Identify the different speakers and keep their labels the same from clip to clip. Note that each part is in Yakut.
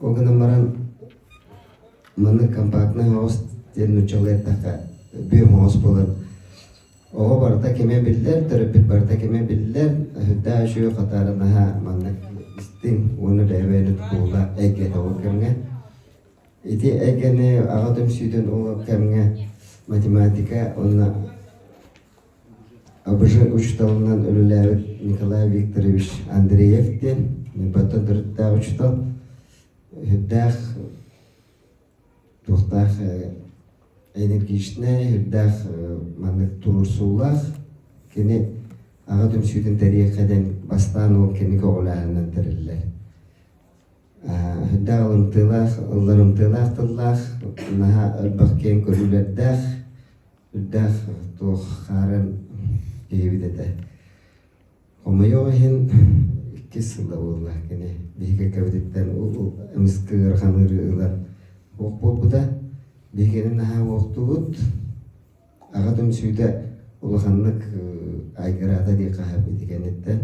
Speaker 1: Ол гынан баран маны компактнай оҕус диэн нууччалыйдахха бүөм оҕус буолар. Оҕо барыта кимэ биллэр, төрөппүт барыта кимэ биллэр, өһүрдаа үшүө хатаары наһаа маннык истиҥ уонна бэһэбээнит буола эйгэ тоҕор кэмҥэ. Ити эйгэни аҕа түмсүүтүн ол кэмҥэ математика уонна АБЖ учууталынан үлэлээбит Николай Викторович Андреев диэн Ньурбаттан төрүттээх учуутал үрдээх туохтаах энергичнэй үрдээх маннык туруорсуулаах кини аҕа түмсүүтүн тэрийэккэ диэн бастаан ол кэми көҕүлээһининэн тэриллэр Даалымтыылаах, ылларымтыылаах тыллаах, наһаа элбэх киэҥ көрүүлэрдээх, үрдээх туох хаарын киһибит этэ. Хомойуох иһин иккис сылла буолла кини биһиги эккэбититтэн эмискэ ыарахан ыарыы ылан уох буолбута. Биһигини наһаа уохтуубут. Аҕа түмсүүтэ улаханнык айгыраата дии хаһап ити кэнниттэн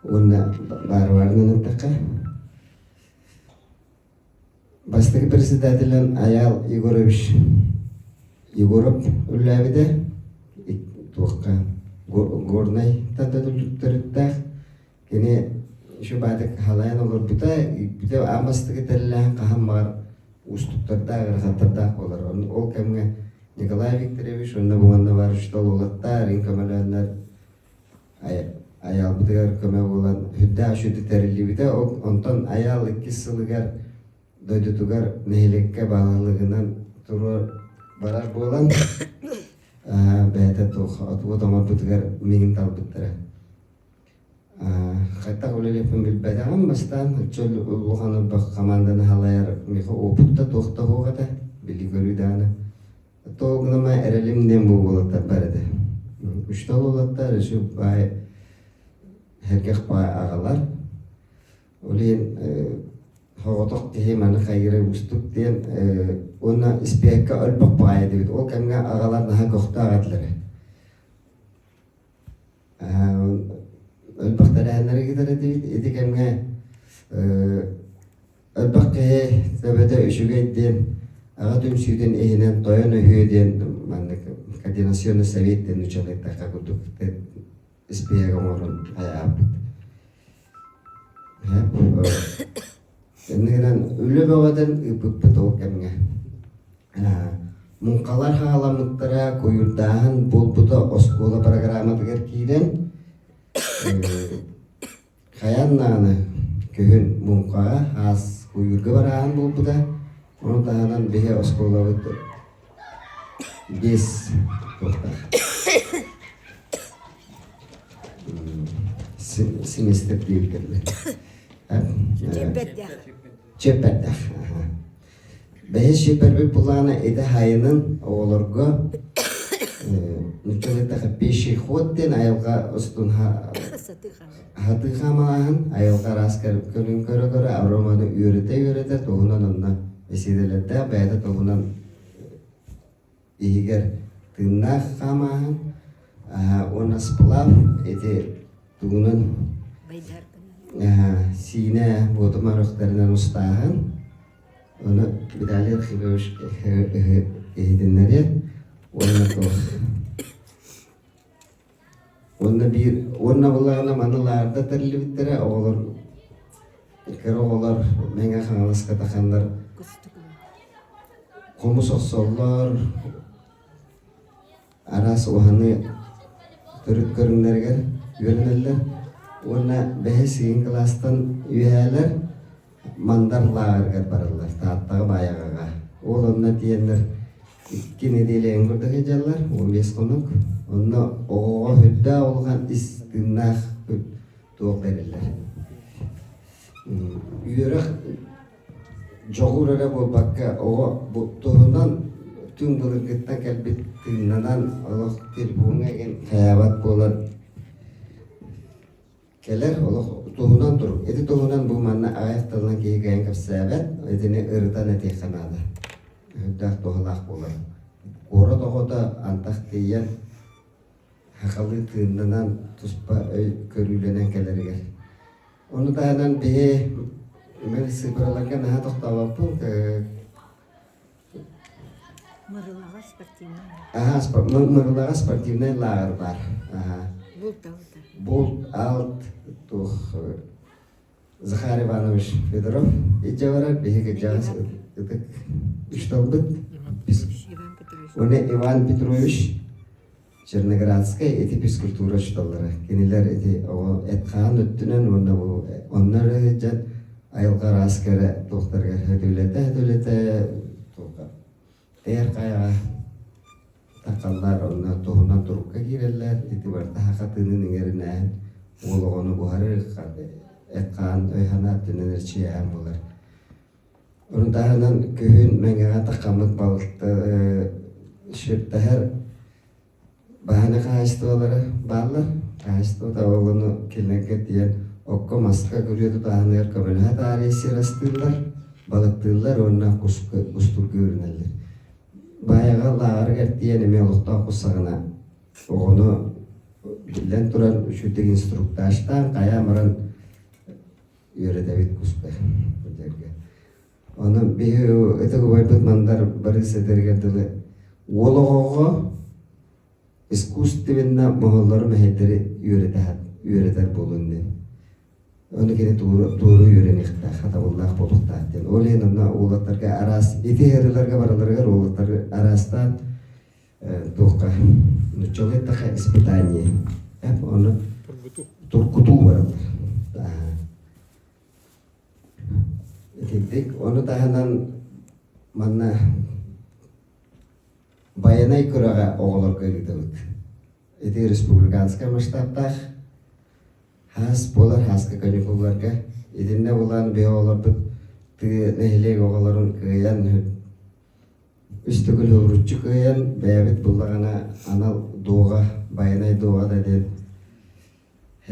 Speaker 1: уонна баарыбарынан эттэххэ бастакы председателин Аял Егорович Егоров үллээбитэ туохха горнайтан да түллүктэриттээх Кини шубатык халайан олорбута, үүтбүтэ аан бастакы тэриллээн хаһан баҕар уустуктардаах, ыарахаттардаах буолар. Ол кэмҥэ Николай Викторович уонна буонна бар шталолоктар, иҥ көмөлөөннөр Айаалбытыгар көмө буолан үрдээх үшүтү тэриллибитэ. Ол онтон Айаал иккис сылыгар дойдутугар нэһилиэккэ баалылыгынан туруор барар буолан бэйэтэ туох отубут оҥорбутугар миигин тарбыттара. хайдах үлэлеппин билбэтэҕим бастаан отчуот улахан ордук хамаанданы халайар миха опытта туох да суох этэ били көрүү даана то гнама эрэлим не буолаттар бар этэ үштал улаттар еще бай хергэх бай агалар ол иһин хоҕотох киһи маны хайыра устук диэн уонна испиэккэ өлбөх баайа дебит ол кэмҥэ агалар наһаа көхтөөх этилэрэ Өлбөхтөрөһөннөрү кытары этибит. Ити кэмҥэ өлбөх киһи төбөтө үчүгэй диэн аҕа түмсүүтүн иһинэн тойон өһүө диэн маннык координационный совет диэн учуонайдахха курдук испиэһэк оҥорон айаһарбыт Иннэ гынан үлэ бөҕөтүн ыыппыппыт ол кэмҥэ муҥхалар хааламмыттара куйурдааһын буолбута оскуола бырагырааматыгар киирэн хайаан даҕаны күһүн муҥхаҕа хаас куйуурга барааһын буолбута ону таһынан биһи оскуолабыт биэс туохтаах семестр диэбитэ чиэппэрдээх бэһис чиэппэрбит былаана ити хайынын оҕолорго ничего так пеший ход диэн айылҕа устунха Аһатыы хаамалааһын айылҕа араас көрүҥ көрө-көрө ароманы үөрэтэ-үөрэтэ туһунан онно бэсиэдэлэрдээх бэйэтэ туһунан иһигэр тыыннаах хаамааһын уонна сплав ити тугунан сиинэ буотума рөхтөрүнэн устааһын ону виталий архипович иһитиннэриэн уонна туох Уонна биир уонна былаана маны лаарда тэрилибиттэрэ оҕолор кэр оҕолор Мэҥэ Хаҥаласка таханнар хомус охсоллор араас уһаны төрүт көрүҥнэригэр үөрэнэллэр уонна бэһис сигин кылаастан үөһээлэр Мандар лааҕырыгар бараллар Тааттаҕа Баайаҕаҕа ол онно тиийэннэр Икки нэдиэлэҥҥэ да сылдьаллар, уон биэс хонук. Онно оҕоҕо сүрдээх улахан ис тыыннаах туох бэриллэр. Үөрэх дьоҕур эрэ буолбакка, оҕо туһунан түҥ былыргыттан кэлбит тыыннанан олох трибуҥа иһин хайаабат буолан Кэлэр олох туһунан турук. Ити туһунан бу манна аҕай тылынан киһи кэйэн кэпсээбэт, итини ырытан этиэххэ наада. Өһүрдээх туһалаах буолар. Куорат оҕото антах тиийэн хахалыы тыыннанан туспа өй көрүүлэнэн кэлэригэр. Ону таһынан биһи мэл сыпыраларга наһаа тохтообоппун Мырылаҕа спортивнай лааҕыр. Аһа, спор- Ныр- Нырылаҕа спортивнай лааҕыр баар. Аһа. Булт алта. Булт аут туох э, Захар Иванович Федоров итже барар биһиги дьаас ытык үсталбыт Иван Петрович. Уне Иван Петрович Черноградскай ити физкультура учууталлара, кинилэр ити оҕо эт-хаан өттүнэн уонна бу онно эрэ сылдьан айылҕа араас кэрэ туохтарыгар сөтүлэтэ-сөтүлэтэ туохха эйэр хайаҕа такаллар онно туһунан турукка киирэллэр ити барыта хатыынын иҥэринээн уол оҕону буһарар ыкка эт-хаан өйхана өттүнэн эрчийээн булар Ону таһынан күһүн Мэҥэҕэ Такамык балыты сүртэһэр баһыйна хаһаайыстыбалары бааллар. Хаһаайыстыбата оҕону килиэнкэ тиийэн окко-маска күрүө тутааһыныгар көмөлөһө таарыйа сир астыыллар, балыктыыллар уонна кустуурга үүрүнэллэр. Баайаҕа лааҕырыгар тиийэн эмиэ олохтоох тустаҕына оҕону биллэн туран үчүгдүк инструктажтаан хайаан баран үөрэтэбит куспай бу жерге. Онон биһи ытык убайбыт Мандар Барыс этэригэр дылы уол оҕоҕо искусственна моһоллору мэһэйдэри үөрэтэ үөрэтэр буолун дин. Оны кини тууру тууру үөрэниэхтээх, хатабыллаах буолуохтаах диэн. Ол иһин онно уолаттарга араас ити ырыларга бараларыгар уолаттары араастаан туохха ночевой таха испытание ону туркутуу бараллар итинтик ону таһынан манна байанай күрэҕэ оҕолорго ыытабыт ити республиканскай масштабтаах хаас буолар хааска каникулларга итиннэ булан биһи оҕолорбут тыы нэһилиэк оҕолорун кыайан Үстүкүл ууруччу кыайан бэйэбит буллаҕына анал дууҕа байанай дууҕа да диэн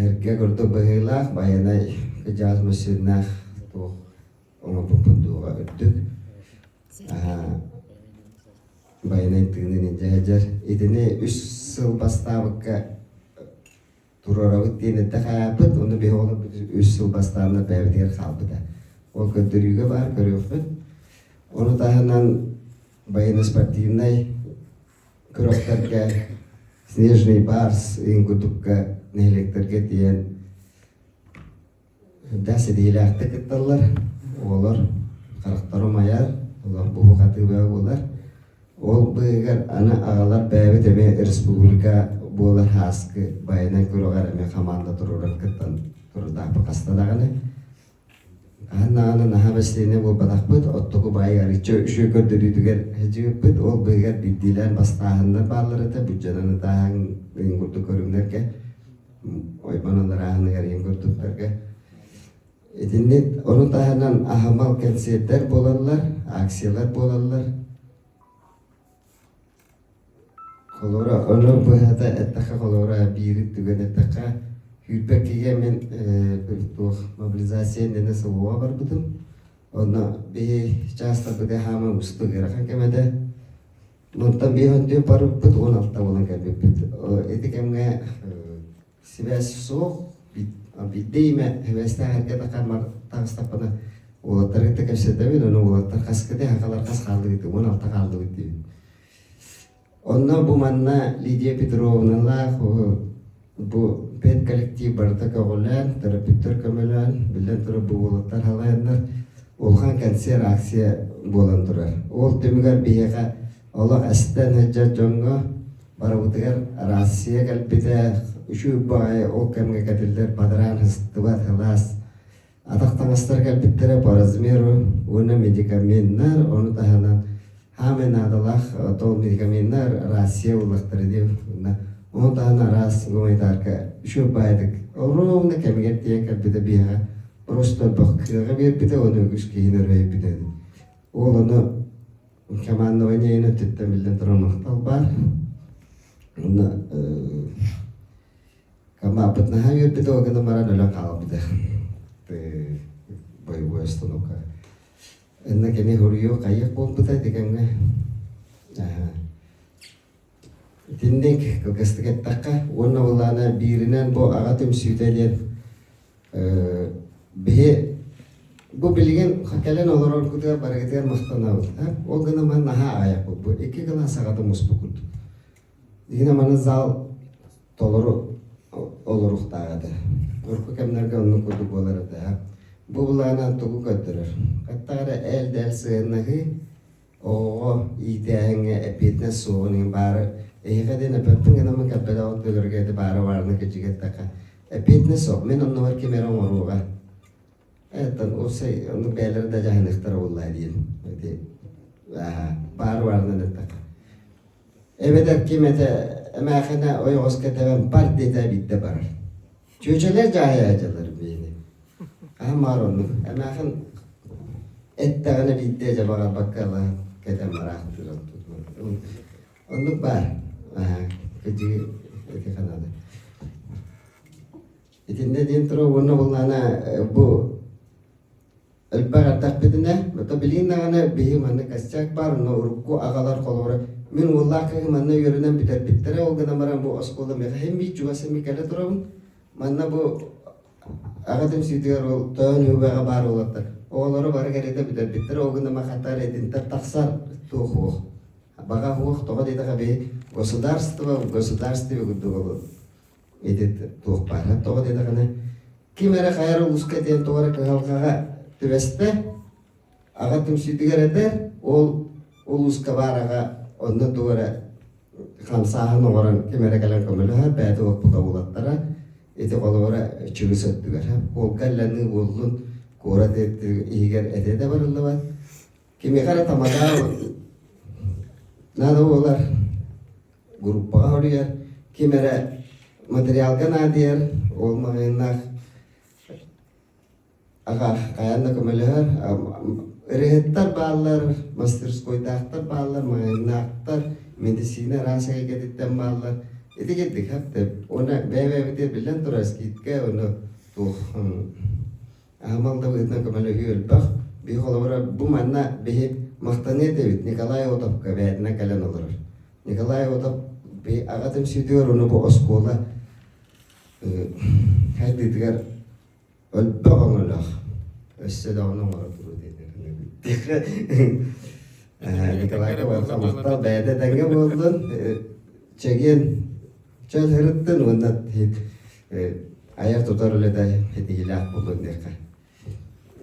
Speaker 1: эргэ курдук быһыылаах байанай кыдьаҕас массыынаах туох оҥорбуппут дууҕа үрдүк байанай тыынын илдьэ сылдьар итини үс сыл бастаабыкка туруорабыт диэн эттэхээппит, уонна биһи оҕолорбут үс сыл бастаан бэйэбитигэр хаалбыта. Ол көрдөрүүгэ баар көрүөхпүт. Ону таһынан военно-спортивнай кросстергэ Снежный барс ыйын курдукка нэһилиэктэргэ тиийэн Да сэдиилээхтик кытталлар. Оҕолор харахтара умайар, олор буһуу-хатыыбыга буолар. Ол быыһыгар аны аҕалар бэйэбит эмиэ республика буолар хааскы байынан көрөҕөр эмиэ хамаанда туруоран кыттан туруутаахпыт хаста даҕаны. Хаһан даҕаны наһаа выступление буолбатахпыт, оттуку баайга арычча үшүө көрдөрүүтүгэр сылдьыбыппыт. Ол быыһыгар биирдиилээн бастааһыннар бааллар этэ, бүддьөнөн ытааһын курдук көрүҥнэргэ ойбон алларааһыныгар ийэм курдуктарга итинни ону таһынан аһымал кэнсиэрдэр буолаллар акциялар буолаллар холура ону быһата эттэхэ холура биири түгэн эттэхэ күйбэккигэ мен туох мобилизация дэнэ сылуга барбытым онно биһи чаастарбыты хаама устугырахан кэмэде Онтон биир аттыы барыппыт уон алта буолан кэлбиппит. Ити кэмҥэ сибээс суох, биирдэ имэ сибээстээх эргэ да хамар таҕыстаппына уолаттары кытта кэпсэтэбин, ону уолаттар хаскыт эһэкалар хас хааллыгыт, уон алта хааллыгыт диибин. Онно бу манна Лидия Петровналаах Бу педколлектив барыта көҕүлээн, төрөппүттэр көмөлөөн, биллэн турар, бу уолаттар халайаннар, улахан кэнсиэр акция буолан турар. Ол түмүгэр биһиэхэ олох эстэн сылдьар дьоҥҥо барыбытыгар Россия кэлбитэ, үчүгэй баҕайы ол кэмҥэ кэтиллэр бадараан сыстыбат сылаас Атах табастара кэлбиттэрэ по размеру уонна медикаменнар, ону таһынан хаамай наадалаах тол медикаменнар Россия буоллахтара дии уонна ону таһынан араас гуманитарка үчүгэй баайдык ровно кэмигэр тиийэн кэлбитэ биһиэхэ росторбах кыаҕа биэрбитэ уонна үгүс киһини өрүһэйбитэ ини. Ол ону командование өттүттэн биллэн турар махтал баар. Уонна Хамааппыт наһаа үөрбүтэ, ол гынан баран өлөн хаалбыта. Боевой остановка. Инна кини хоруйу хайык буолбута дегенге. Итинник кылгастык эттэххэ, уонна былаана бииринэн бу аға түмсүүтэ диэн биһи бу билигин кэлэн олорор кутугар барыгытыгар махтанабыт. Ол гынан ман наһаа аҕыйах бу. Икки кылаас саҕата муспукут. Иһин аманы зал толору олоруохтаах этэ. Урукку кэмнэргэ оннук курдук буолар этэ. Бу былаанан тугу көрдөрөр? Хаттаҕа эрэ эл-эл сыһыаннаһыы, оҕоҕо иитээһиҥҥэ эппиэтинэс суоҕун иһин баара эһиэхэ диэн эппэппин гынан кэлбэтэҕит дөлөргө ити баара баарына кэчигэттэххэ эппиэтинэс суох мин оннубар ким эрэ оҥоруоҕа ээттэн уопсай оннук бэйэлэрэ да дьаһаныахтара буоллаа диэн ити баар баарынан эттэххэ эбэтэр ким этэ эмээхинэ ойоҕос кэтэбэн бар диэтэ биирдэ барар чүөчэлэр дьаһайаадьаларын биһини хаһан баҕар оннук эмээхин эттэҕинэ биирдэ дьэ баҕарбакка ала кэтэн бараахын туран тутман оннук баар кыдьыы эти ханады Итиннэ диэнтро уонна булнаана бу элбэх ардахпытына, ото билигин даҕаны биһи манна косяк баар, онно урукку аҕалар холобура мин уоллаах кыыһым манна үөрэнэн бүтэрбиттэрэ, ол гынан баран бу оскуола мэхэһин биир чугасым кэлэ турабын. Манна бу аҕатым сиитигэр ол тоон үһүбэҕэ баар уолаттар оҕолору бары кэриэтэ бүтэрбиттэрэ, ол гынан баран хатаар итинтэн тахсар туох уох. Баҕа уох тоҕо диэтэхэ биһи государство в государстве курдук олорор. Ити туох баарынан тоҕо диэтэҕинэ, ким эрэ хайа эрэ улууска диэн тоҕо эрэ кыһалҕаҕа түбэстэ, аҕа түмсүүтүгэр этэр, ол улууска баар аҕа онно тугу эрэ хамсааһын оҥорон ким эрэ кэлэн көмөлөһө, бэйэтин оппута булаттара. Ити холобура чүгүс өттүгэр. Уолга иллэни уоллун куорат иһигэр этэ да барыллыбат. кимиэхэ эрэ тамадааҕын наада буолар группаҕа уруйар ким эрэ материалга наадыйар ол маҕайыннаах аха хайаан да көмөлөһөр ырыһыттар бааллар мастерскойдаахтар бааллар маҕайыннаахтар медицина араас эйгэтиттэн бааллар ити курдук хап тэп уонна бэйэ бэйэбитигэр биллэн турар скидка ону туох Аһымал далыытынан көмөлөһүү элбэх. Биир холобура, бу манна биһи махтаныа этэбит Николай Отовка бэйэтинэн кэлэн олорор. Николай Отов аҕа түмсүүтүгэр уонна бу оскуола хайдыытыгар өлбөх өҥөлөөх өссө да ону оҥоро туруу диэтэр Николайга барҕа махтал бэйэтэ этэҥҥэ буоллун чэгиэн чөл сырыттын уонна айар-тутар үлэтэ ситиһиилээх буолуо диэххэ.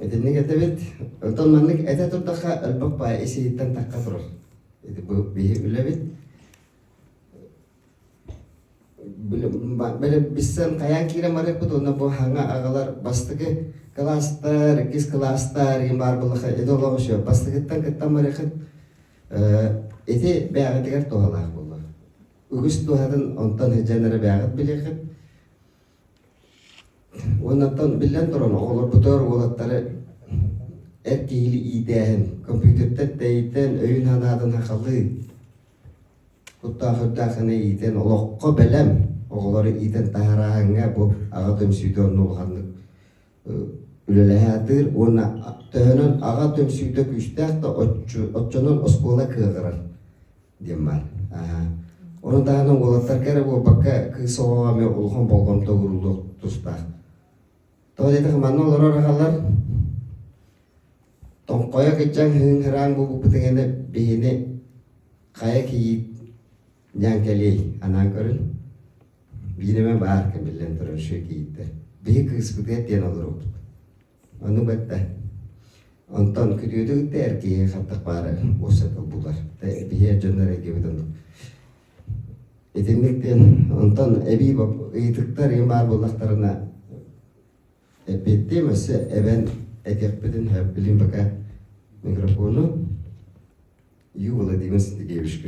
Speaker 1: Итинник этэбит. Оттон маннык этэ турдахха өлбөх баай ис-иһиттэн тахха турар. Ити бу биһи үлэбит. Били биссэн хайаан киирэн барыппыт уонна бу хаҥа агалар бастыкы кылаастар, иккис кылаастар, иген баар буллаха ити олоҕу шө бастыкыттан кыттан барыхын ити бэйэҕитигэр туһалаах буолуо. үгүс дууһатын онтон сылдьан эрэ бээҕит билиэхит. Уоннаттан биллэн туран, оҕолорбутугар уолаттары эр киһили иитээһин, компьютердар тэйитэн, өйүн-санаатын хахалыын, куттаах-үрдээх гына иитэн, олоххо бэлэм оҕолору иитэн таһарааһыҥҥа бу аҕа түмсүүтэ онно улаханнык үлэлэһэ атыыр уонна төһөнөн аҕа түмсүүтэ күүстээх да оччонон оскуола кыаҕырар. диэн баар. Ону таһынан уолаттарга эрэ буолбакка кыыс оҕоҕо эмэ улахан болҕомто ууруллуох тустаах. Тоҕо диэтэх манна олорор аҕалар тоҥхойо кыччаҥ хыҥ-хыраан буолбуппутун инэ биһини хайа кийиит дьааҥкэлиэй анаан көрүн биир эмэ баар кэмиллэн турар үчүгэй кийииттэр биһи кыыспытыгар диэн олоруохпут Аны бэртэ. Онтон күрүөдүгүттэр киһи хантах баара уопсата булар. Биһиэр дьоннор эйгибит оннук. Итинниктин онтон эбии ыйытыктар ийым баар буоллахтарына эппиэттиэм өссө эбэн экекпитин билим пока микрофону ю владимир сергеевичка